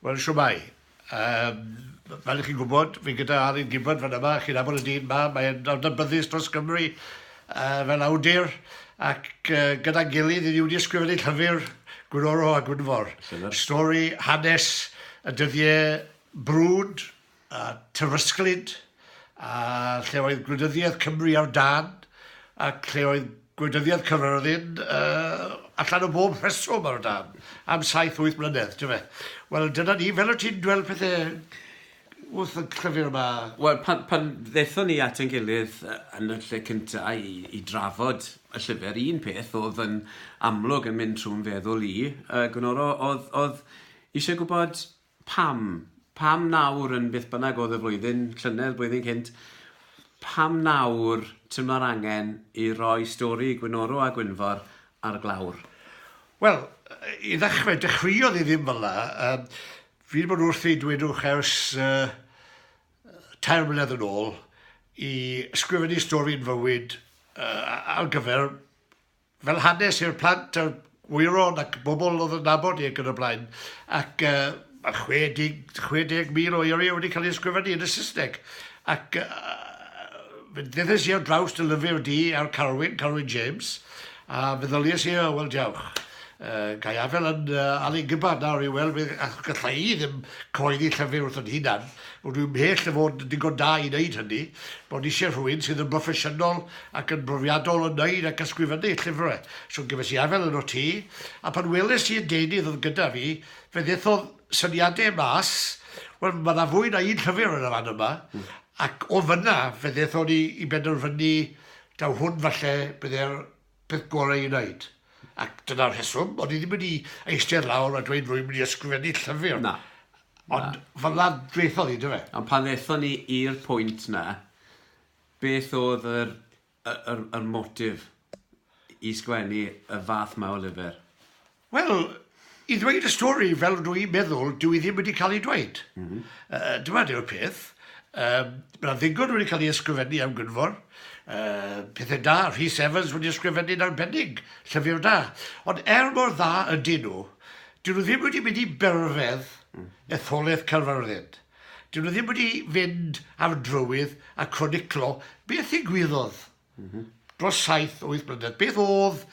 Wel, shwmae. Yym, fel y'ch chi'n gwybod, fi gyda Alun Gibbard fan yma, chi'n nabod y dyn 'ma, mae'n adnabyddus dros Gymru yy fel awdur, ac yy gyda'n gilydd, 'yn ni wedi ysgrifennu llyfr, Gwnoro a Gwynfor. Llyfr? Stori, hanes, y dyddie brwd, a Tywysglyd, a lle oedd gwleidyddiaeth Cymru ar dân, ac lle oedd gwleidyddiaeth Caerfyrddin uh, allan o bob rheswm ar dân, am saith wyth mlynedd, ti'n fe. Wel, dyna ni, fel o ti'n dwel pethau wrth y llyfr yma? Wel, pan, pan ddethon ni at yn gilydd yn y lle cyntaf i, i drafod y llyfr, un peth oedd yn amlwg yn mynd trwy'n feddwl i, uh, Gwnoro, oedd, oedd eisiau gwybod Pam? Pam nawr yn beth bynnag oedd y flwyddyn, llynedd, blwyddyn cynt? Pam nawr teimlo'r angen i roi stori Gwynoro a Gwynfor ar glawr? Wel, i ddechrau, dechreuodd hi ddim fel 'na. Yym, fi 'di bod wrthi, dwedwch, ers tair mlynedd yn ôl i ysgrifennu stori yn fywyd ar gyfer fel hanes i'r plant a'r gwyron ac bobl oedd yn nabod i ac yn y blaen. Ac yy ma' chwe deg, chwe deg mil o eiriau wedi cael ei ysgrifennu yn y Saesneg. Ac yy fe ddedais i ar draws dy lyfr di ar Carwyn, Carwyn James, a feddyliais i, o, wel, diawch. Uh, gai afel yn uh, Ali Gibbard nawr i weld beth, achos gallai i ddim cyhoeddi llyfr wrth yn hunan, Rwy'n mhell o fod yn ddigon da i wneud hynny, ro'n i eisiau rhywun sydd yn broffesiynol ac yn brofiadol o wneud ac ysgrifennu llyfrau, so gefais i afael arnot ti, a pan weles i'r deunydd oedd gyda fi, fe ddethodd syniadau mas, wel, mae yna fwy na un llyfr yn y fan yma, ac o fan'na fe ddethon ni i benderfynu taw hwn falle byddai'r peth gorau i wneud. Ac dyna'r rheswm, o'n i ddim wedi eistedd lawr a dweud rwy'n mynd i ysgrifennu llyfr. Na. Ond fel dweithodd hi, dyfe? Ond pan ddethon ni i'r pwynt na, beth oedd yr, yr, yr motif i sgwennu y fath ma o lyfr? Wel, i ddweud y stori fel ydw i'n meddwl, dyw hi ddim wedi cael ei dweud. Mm -hmm. uh, dyma yw'r peth. Um, Mae'n ddigon wedi cael ei ysgrifennu am Gynfor. Uh, pethau da, Rhys Evans wedi ysgrifennu'n arbennig, llyfr da. Ond er mor dda ydyn nhw, dyn nhw ddim wedi mynd i berfedd mm. etholaeth Caerfyrddin. Dyn nhw ddim wedi fynd ar drywydd a croniclo beth i gwyddodd mm -hmm. dros 7-8 blynedd. Beth oedd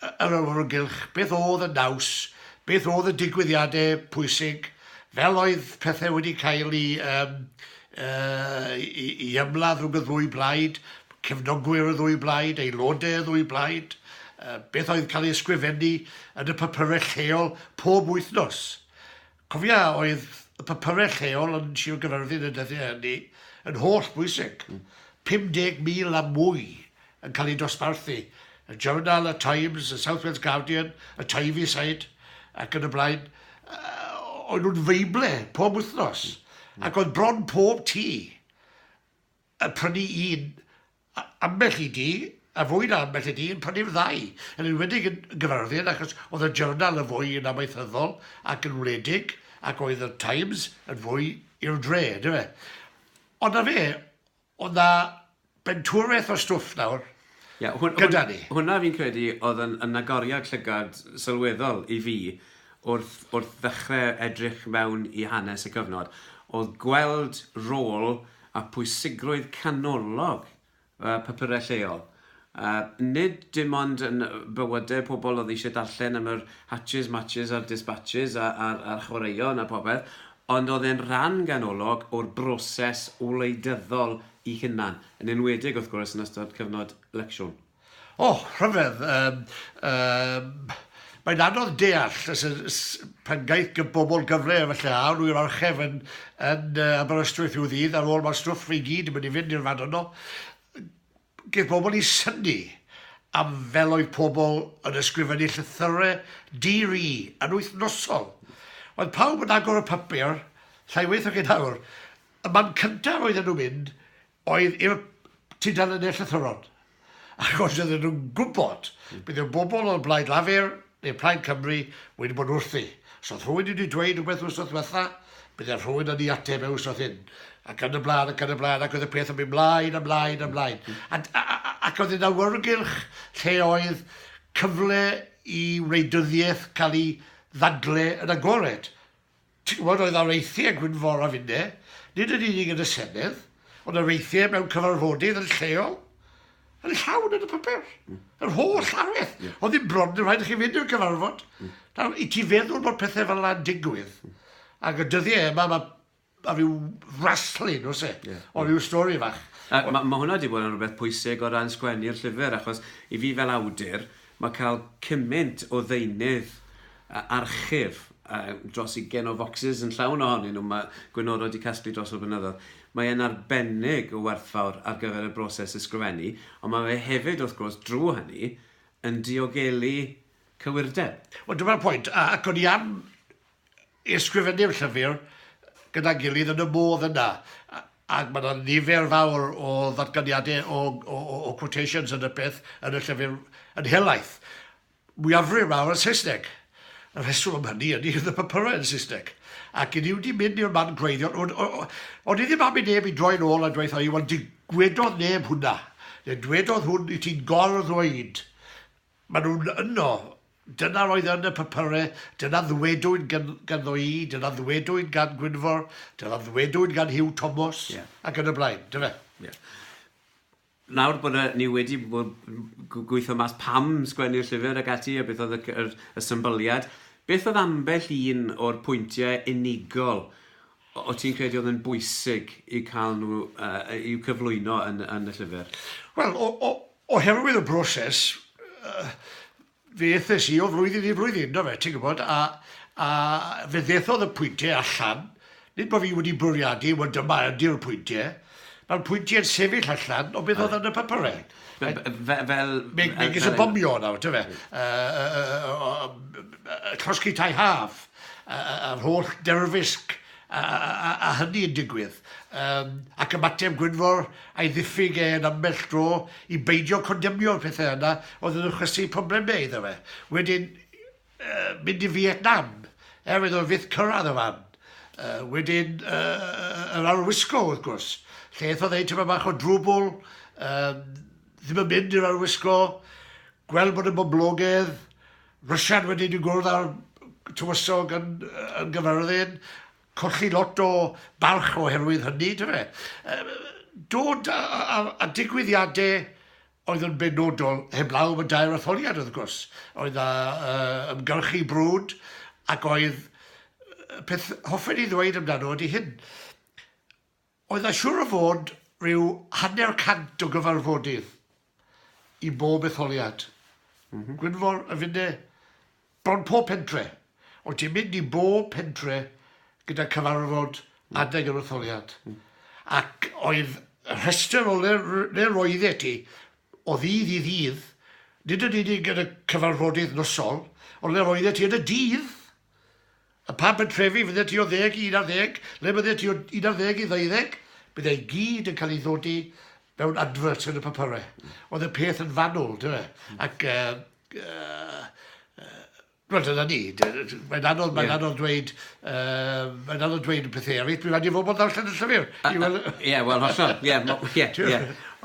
yr awyrgylch, beth oedd y naws, beth oedd y digwyddiadau pwysig, fel oedd pethau wedi cael eu um, uh, i, i ymladd rhwng y ddwy blaid, cefnogwyr y ddwy blaid, aelodau y ddwy blaid, uh, beth oedd cael ei ysgrifennu yn y papyrau lleol pob wythnos. Cofia oedd y papyrau lleol yn Sir Gaerfyrddin y dyddiau hynny yn holl bwysig, 50,000 a mwy yn cael eu dosbarthu, y Journal, y Times, y South Wales Guardian, y Tyneside ac yn y blaen, oen nhw'n feible pob wythnos ac oedd bron pob tŷ yn prynu un ambell i dŷ, a fwy na ambell i dŷ, yn prynu'r ddau, yn enwedig yn Gaerfyrddin, achos oedd y Journal yn fwy yn amaethyddol ac yn wledig, ac oedd y Times yn fwy i'r dre, yndyfe. fe. Ond na fe, oedd na bentwrfeth o stwff nawr, yeah, hwn, gyda ni. Hwna fi'n credu oedd yn, yn agoriad llygad sylweddol i fi wrth, wrth ddechrau edrych mewn i hanes y cyfnod, oedd gweld rôl a phwysigrwydd canolog y papurau lleol, nid dim ond yn bywydau pobl oedd eisiau darllen am yr hatches, matches a'r dispatches a'r chwaraeon a phopeth, ond oedd e'n rhan ganolog o'r broses wleidyddol ei hunan, yn enwedig, wrth gwrs, yn ystod cyfnod Lecsiwn. O, rhyfedd. Yym, yym, mae'n anodd deall os y- s- pan gaeth gy- bobl gyfle efallai, a o'n nhw i'r orchef yn, yn yy, Aberystwyth rhyw ddydd, ar ôl mae'r stwff i gyd yn mynd i fynd i'r fan yno, gaeth bobl eu synnu am fel oedd pobl yn ysgrifennu llythyrau di-ri yn wythnosol. Roedd pawb yn agor y papur, llai waith nag hyn nawr. Y man cyntaf oedden nhw'n mynd oedd i'r tudalennau llythrennol, achos oedden nhw'n gwybod beth oedd bobl o Blaid Lafur neu Plaid Cymru wedi bod wrthi. Os oedd rhywun wedi dweud rhywbeth wythnos ddiwetha', bydd y rhywun yn ei ateb e wythnos hyn, ac yn y blaen ac yn y blaen, ac oedd y peth yn mynd mlaen a mlaen a mlaen. A, a, a, ac oedd yn awyrgylch lle oedd cyfle i wleidyddiaeth cael ei ddadle yn agored. Ti'n gwybod, oedd 'na weithiau Gwynforaf inne, nid yn unig yn y Senedd, ond ar weithiau mewn cyfarfodydd yn lleol, yn llawn yn y papur. Mm. Yr holl llaweth. Mm. Oedd ddim bron yn rhaid i chi fynd i'r cyfarfod. Mm. Nawr, i ti feddwl bod pethau fel yna'n digwydd, mm. ac y dyddiau yma, mae a rhyw wrestling, os e, yeah. o rhyw stori fach. Mae ma, ma hwnna wedi bod yn rhywbeth pwysig o ran sgwennu'r llyfr, achos i fi fel awdur, mae cael cymaint o ddeunydd archif uh, dros i gen o focsys yn llawn ohonyn nhw. Mae Gwenoro wedi casglu dros o'r blynyddoedd. Mae e'n arbennig o werthfawr ar gyfer y broses ysgrifennu, ond mae fe hefyd, wrth gwrs, drwy hynny, yn diogelu cywirdeb. Wel, dyma'r pwynt, ac o'n i am ysgrifennu'r llyfr gyda'n gilydd yn y modd yna, ac mae yna nifer fawr o ddatganiadau o, o, o, o quotations yn y peth yn y llyfr yn helaeth. mwyafrif mawr yn Saesneg. Y rheswm am hynny ydy oedd y papurau yn Saesneg, ac i ni wedi mynd i'r man gwreiddiol, o- o- o- o'n i ddim am i neb i droi'n ôl a dweutha i, 'Wel, digwedodd neb hwnna, neu dwedodd hwn i ti'n gor-ddweud, maen nhw'n yno, dyna'r oedd yn y papurau, dyna ddwedwyd gan, ganddo i, dyna ddwedwyd gan Gwynfor, dyna ddwedwyd gan Huw Tomos, Ie. ac yn y blaen, dyfe? Ie. Nawr bod y, ni wedi gweithio mas pam sgwennu'r llyfr ac ati, a beth oedd y, y, y symbyliad, beth oedd ambell un o'r pwyntiau unigol o ti'n credu oedd yn bwysig i cael nhw, uh, i'w cyflwyno yn, yn y llyfr? Wel, o, o, oherwydd y broses, uh, Fe ethes i o flwyddyn i flwyddyn, do fe, ti'n gwybod, a, a fe ddethodd y pwyntiau allan, nid bod fi wedi bwriadu, wel dyma ydy'r pwyntiau, mae'r pwyntiau yn sefyll allan o beth oedd yn y papurau. Fel... fel megis y bomio nawr, do fe. Llosgi tai haf, yr holl derfysg a, a, a hynny yn digwydd, um, ac ymateb Gwynfor a'i ddiffyg e yn ambell dro i beidio condemnio'r pethau yna oedd yn ychwasu problemau iddo fe. Wedyn, uh, mynd i Vietnam, er oedd o fyth cyrraedd y fan. Uh, wedyn, uh, yr arwisgo, wrth gwrs, lle eith oedd ei tyma bach o drwbl, uh, ddim yn mynd i'r arwisgo, gweld bod y boblogedd, Rwsia'n wedi dod i gwrdd â'r tywysog yn yn Gaerfyrddin, colli lot o barch oherwydd hynny, do fe? Yy dod a a a a digwyddiade oedd yn benodol heblaw am y dair etholiad wrth gwrs, oedd a yy ymgyrchu brwd ac oedd yy peth hoffen i ddweud amdano ydi hyn. Oedd a siŵr o fod rhyw hanner cant o gyfarfodydd i bob etholiad. Gwynfor, y finne, bron pob pentre. Oedd ti'n mynd i bob pentre gyda cyfarfod adeg yr etholiad. Ac oedd y rhestr o le le roeddet ti o ddydd i ddydd, nid yn unig yn y cyfarfodydd nosol, ond le roeddet ti yn y dydd! A phan pentrefi fyddet ti o ddeg i un ar ddeg, le byddet ti o un ar ddeg i ddeuddeg, bydd e i gyd yn cael ei ddodi mewn adverts yn y papyrau. Oedd y peth yn fanwl, dy fe? Ac, uh, uh, Wel, dyna ni. Mae'n anodd, mae'n yeah. anodd dweud, uh, mae'n anodd dweud pethau eraill. Dwi'n rhaid i fod bod ddarllen y llyfr. Ie, wel, hollol. Ie, ie.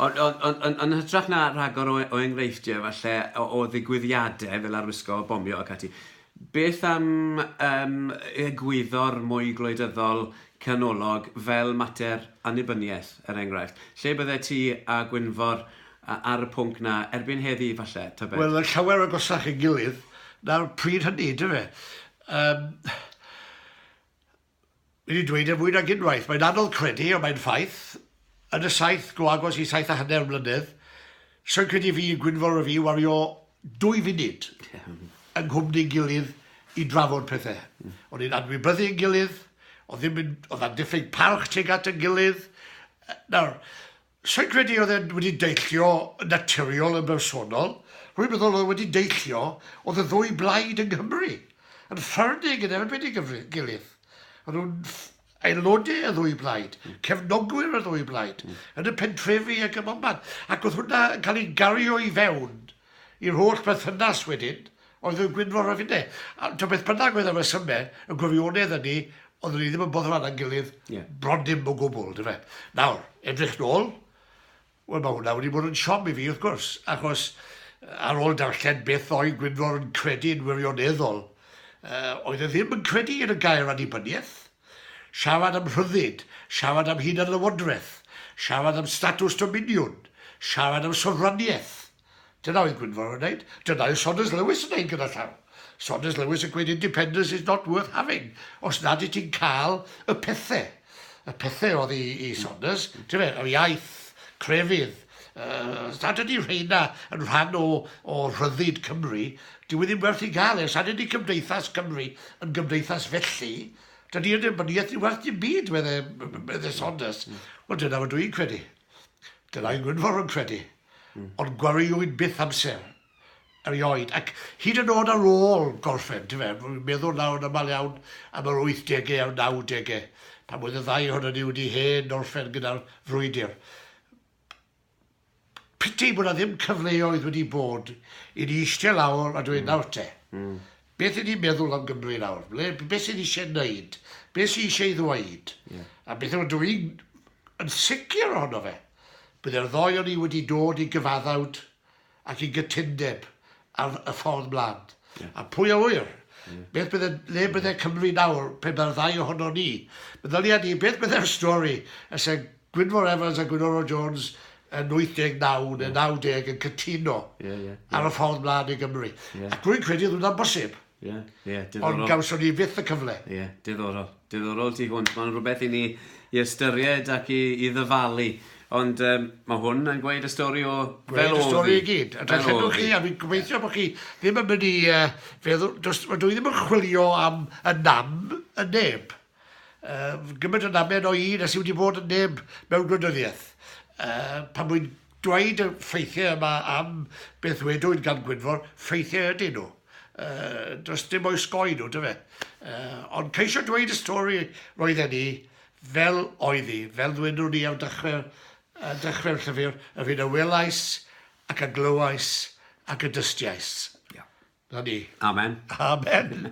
Ond yn hytrach na rhagor o, o enghreifftiau, falle, o, o ddigwyddiadau fel arwisgo o bomio ac ati, Beth am yym egwyddor mwy gwleidyddol canolog fel mater annibyniaeth, er enghraifft? Lle byddet ti a Gwynfor ar y pwnc 'na erbyn heddi, falle, tybed? Wel, yn llawer agosach ei gilydd na'r pryd hynny, dyfe? Yym. wedi dweud e fwy nag unwaith, mae'n anodd credu, ond mae'n ffaith, yn y saith, go agos i saith a hanner mlynedd, soi'n credu fi, Gwynfor a fi, wario dwy funud yng nghwmni'n gilydd i drafod pethau. O'n ni'n anwybyddu yn gilydd, oedd ddim yn, oedd na diffyg parch tuag at yn gilydd. Nawr, Sa i'n credu oedd e'n wedi deillio yn naturiol yn bersonol, rwy'n meddwl oedd e wedi deillio oedd y ddwy blaid yng Nghymru yn ffyrnig yn erbyn ei gilydd. O'n nhw'n aelodau y ddwy blaid, cefnogwyr y ddwy blaid, yn y pentrefi ac ym mhobman. Ac oedd hwnna yn cael ei gario i fewn i'r holl berthynas wedyn, Oedd yn Gwynfor a finne. A t'o' beth bynnag oedd y resyme, y gwirionedd ydi, oedden ni ddim yn boddran â'n gilydd... Ie. ...bron dim o gwbwl, on'd yfe? Nawr, edrych nôl, wel ma' hwnna wedi bod yn siom i fi wrth gwrs, achos ar ôl darllen beth oedd Gwynfor yn credu yn wirioneddol, yy oedd e ddim yn credu yn y gair annibynieth. Siarad am rhyddid, siarad am hunanlywodraeth, siarad am statws dominiwn, siarad am sofraniaeth. Dyna oedd Gwynfor yn wneud, dyna oedd Saunders Lewis yn wneud gyda llaw. Saunders Lewis yn gweud independence is not worth having, os nad i ti'n cael y pethau. Y pethau oedd i, i Saunders, ti'n fe, yr iaith, crefydd, uh, nad ydy rheina yn rhan o, o rhyddid Cymru, dyw e ddim werth i gael e, nad ydy cymdeithas Cymru yn gymdeithas felly, dydy yn ymyniaeth ni werth dim byd, medde, medde Saunders. Wel, dyna fod dwi'n credu. Dyna yng Gwynfor yn credu. ond gwariwyd byth amser erioed, ac hyd yn oed ar ôl gorffen, ti'n fe, rwy'n meddwl nawr yn aml iawn am yr wythdegau a'r nawdegau, pan oedd y ddau ohonon ni wedi hen orffen gyda'r frwydr. Piti bod na ddim cyfleoedd wedi bod i ni eistedd lawr a dweud nawr te, Beth y'n ni'n meddwl am Gymru nawr? Ble, beth sydd eisiau gwneud? Beth sydd eisiau ei ddweud? Yeah. A beth yw, dwi yn sicr ohono fe. Byddai'r ddoi o'n ni wedi dod i gyfaddawd ac i gytundeb ar y ffordd mlaen. Yeah. A pwy a wyr? Yeah. Beth bydde, le bydde Cymru nawr pe mae'r ddau ohono ni? Meddylia ni, beth bydde'r stori y sy'n Gwynfor Evans a Gwynoro Jones yn 89 neu 90 yn cytuno ar y ffordd mlaen i Gymru. Ac rwy'n credu oedd hwnna'n bosib. Ie, ie, diddorol. Ond gawson ni fyth y cyfle. Ie, diddorol. Diddorol tu hwnt. Mae'n rhywbeth i ni i ystyried ac i, i ddyfalu. Ond um, mae hwn yn gweud y stori o fel oedd y stori i gyd. A dwi'n llenwch chi, a fi'n gobeithio bod chi ddim yn mynd i uh, feddwl, dwi ddim yn chwilio am y nam y neb. Yy gymaint o ddamen o un a sy wedi bod yn neb mewn gwleidyddiaeth. Yy pan wy'n dweud y ffeithiau yma am beth wedwyd gan Gwynfor, ffeithiau ydyn nhw. Yy does dim o'i sgoi nhw, dyfe. Yy ond ceisio dweud y stori roedden ni fel oedd hi, fel ddwedwn ni ar dechrau, uh, dechrau'r llyfr, yr hyn a welais ac a glywais ac a dystiais. Yeah. Na ni. Amen. Amen.